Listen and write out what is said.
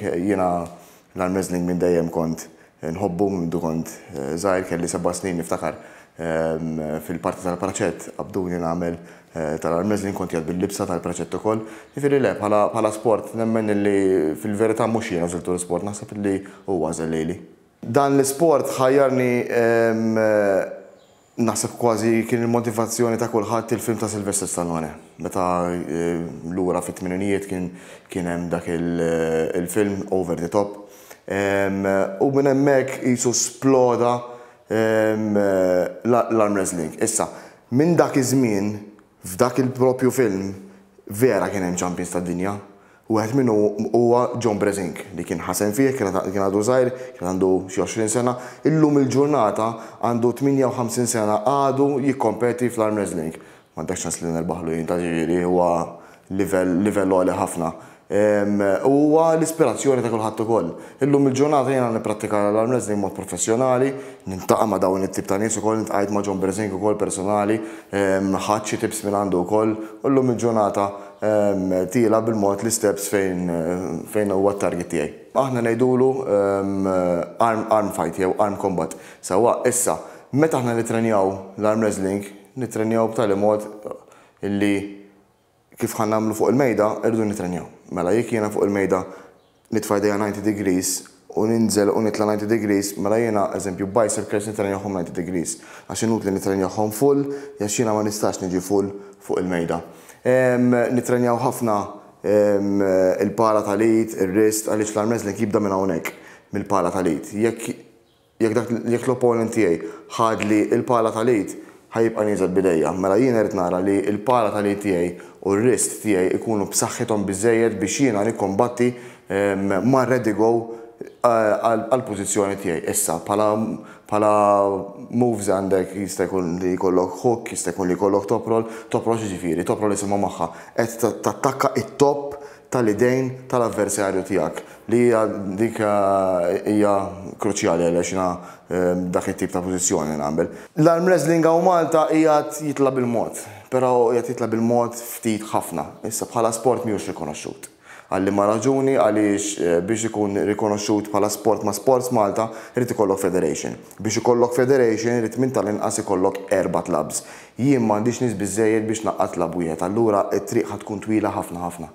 Jiena l-Al Mesling minn dejjem kont nħobbu minn mindu kont żgħir kelli seba' snin niftakar fil-parti tal-praċett qabduni nagħmel tal-Al Mesling kont qiegħed bil-libsa tal-praċett ukoll. Jiġifieri le bħala sport nemmen illi fil-verità mhux jien għażiltu l-isport naħseb illi hu għażel lili. Dan l-isport ħajjarni Naħseb kważi kien il-motivazzjoni ta' kulħadd il-film ta' Sylvester Stallone. Meta lura fit-tmininijiet kien kien hemm dak il-film Over the Top. U minn hemmhekk qisu sploda l-arm wrestling. Issa, minn dak iż-żmien F'dak il-proprju film vera kien hemm champions tad-dinja. Wieħed minnhom huwa John Brezink li kien ħasen fih, kien għadu żgħir, kien għandu xi għoxrin sena, illum il-ġurnata għandu 58 sena għadu jikkompeti fl-arm wrestling. M'għandekx ċans li nerbaħlu jien, ta' jiġifieri huwa livell għoli ħafna. u huwa l-ispirazzjoni ta' kulħadd ukoll. Illum il-ġurnata jiena nipprattika l-arm wrestling b'mod professjonali, niltaqa' ma' dawn it-tip ta' nies ukoll, iltqajt ma' John Brzenk ukoll personali, ħadt xi tips minn għandu wkoll u llum il-ġurnata tiela' bil-mod l-isteps fejn huwa t-target tiegħi. Aħna ngħidulu arm fight jew arm combat sewwa. Issa, meta aħna nittrenjaw l-arm wrestling, nittrenjaw b'tali mod illi Kif ħa nagħmlu fuq il-mejda, irridu nitrenjaw. Mela jekk jiena fuq il-mejda nitfa' jdejja ninety degrees u ninżel u nitla' ninety degrees, mela jiena, eżempju, biceps curls nitrenjahom ninety degrees. Għax inutli nitrenjahom full, għax jiena ma nistax niġi full fuq il-mejda. Nitrenjaw ħafna il-pala tal-id, ir-wrist, għaliex l-arm wrestling jibda minn hawnhekk, mill-pala tal-id. Jekk. Jekk dak, jekk l-opponent tiegħi ħadli l-pala tal-id, ħa jibqa' nieżel b'idejja. Mela jiena rrid nara li l-pala tal-id tiegħi u r-wrist tiegħi jkunu b'saħħithom biżżejjed biex jiena nikkombatti ma' ready go għall-pożizzjoni tiegħi. Issa, bħala, bħala moves għandek, jista' jkun li jkollok hook, jista' jkun li jkollok top roll. Top roll x'jiġifieri? Top roll isimha magħha qed tattakka t-topp tal-idejn tal-avversarju tiegħek. Li hija dik hija kruċjali għaliex jiena dak it-tip ta' pożizzjoni nagħmel. L-arm wrestling hawn Malta qiegħed jitla' bil-mod, però qiegħed jitla' bil-mod ftit ħafna. Issa bħala sport mhijiex rikonoxxut. Għal liema raġuni għaliex biex ikun rikonoxxut bħala sport ma' Sports Malta irid ikollok federation. Biex ikollok federation irid minn tal-inqas ikollok erba' clubs. Jien m'għandix nies biżżejjed biex ngħaqqad club wieħed allura t-triq ħa tkun twila ħafna ħafna.